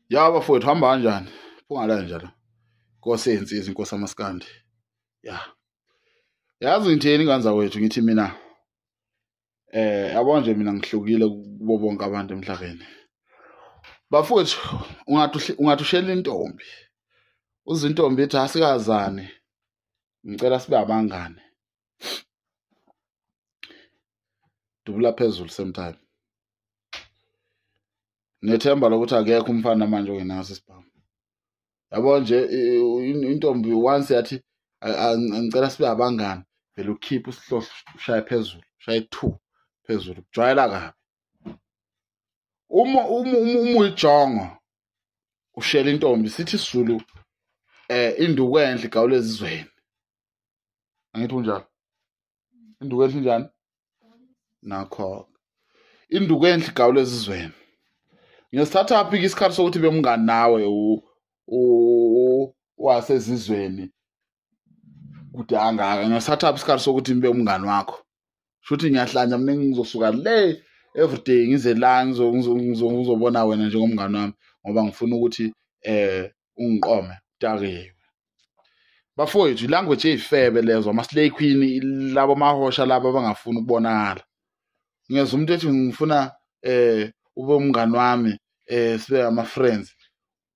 ya bafowethu hamba kanjani phunga la nje la inkosi eyinsizwa inkosi amaskandi ya yazi ngitheni ingane zakwethu ngithi mina eh yabo nje mina ngihlukile kubo bonke abantu emhlabeni bafowethu ungathi ungathi ushela intombi uzintombi ethi asikazane ngicela sibe abangane dubula phezulu same time nethemba lokuthi akekho umfana manje ongenaso isibhamu yabo nje intombi once yathi ngicela sibe abangani vele ukhiphe usihlohlo ushaye phezulu ushaye two phezulu kujwayela kabi uma uma uyijongo ushela intombi sithi isizulu eh induku enhle igawula ezizweni angithi unjalo induku enhle njani nakho induku enhle igawula ezizweni ngesithathaphi ke isikhathi sokuthi bemngani nawe wasezizweni kude angaka ngesithathaphi isikhathi sokuthi ngibe umngani wakho shuthi ngiyahlanja mina ngizosuka le everyday ngize la ngizobona wena njengomngane wami ngoba ngifuna ukuthi eh ungiqome takiwe bafowethu ilanguage eyifebe lezo ama-slay queen labo mahosha labo abangafuni ukubonakala ngeza umuntu ethi ngifuna eh ube umngani wami eh sibe ama-friends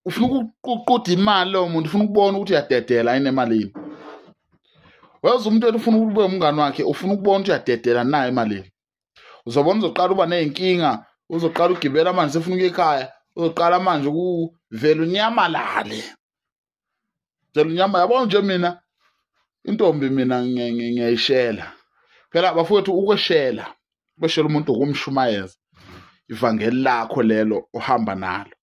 ufuna ukuququda imali lowo muntu ufuna ukubona ukuthi uyadedela yini emalini weza umuntu ethi ufuna ukube umngane wakhe ufuna ukubona ukuthi uyadedela nayo emalini uzobona uzoqala uba ney'nkinga uzoqala ugibela amanzi efuna ukuya ekhaya uzoqala manje ukuvela unyamalale ngicela inyama yabo nje mina intombi mina ngiyayishela phela bafowethu ukweshela kweshela umuntu ukumshumayeza ivangeli lakho lelo ohamba nalo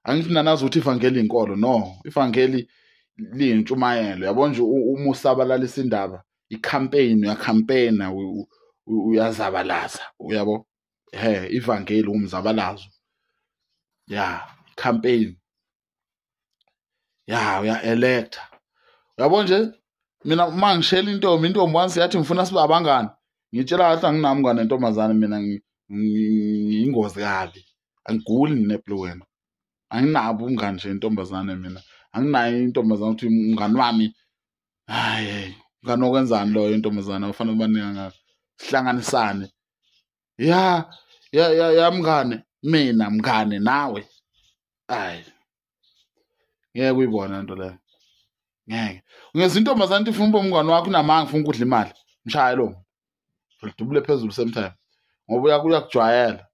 angithi nanazi ukuthi ivangeli inkolo no ivangeli liyintshumayelo yabo nje uma usabalalisa indaba i-campaign uyacampaigna uyazabalaza uyabo he ivangeli umzabalazo ya campaign ya uya elector uyabo nje mina uma ngishela intombi intombi once yathi ngifuna sibe abangani ngitshela kahle anginami ngane ntombazane mina ngiyingozi kabi angiguli ngineple wena anginabo umngani nje intombazane mina anginayo intombazane ukuthi umngani wami hayi nganokwenzani loyo intombazane ufanele ubaninga ngakho sihlanganisane ya ya ya ya mngane mina mngane nawe ayi ngeke uyibona into leyo ngeke ngeza intombazane ithi funa uba umngane wakho unamanga ufuna ukudla imali mshaye lo udubule phezulu same time ngoba uyakujwayela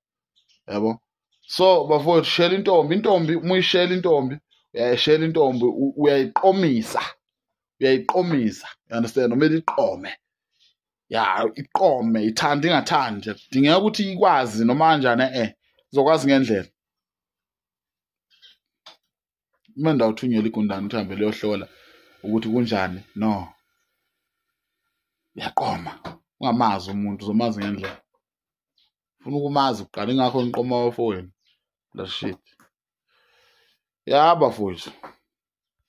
yabo so bafowethu shela intombi intombi uma uyishela intombi uyayishela intombi uyayiqomisa uyayiqomisa you understand uma liqome ya iqome ithanda ingathandi kudingeka ukuthi ikwazi noma kanjani eh izokwazi ngendlela uma ndawuthunyela igundane ukuthi hambe liyohlola ukuthi kunjani no yaqoma ungamazi umuntu uzomazi ngendlela funa ukumazi kuqala ingakho ngiqoma wafowenu la shit yaba fowethu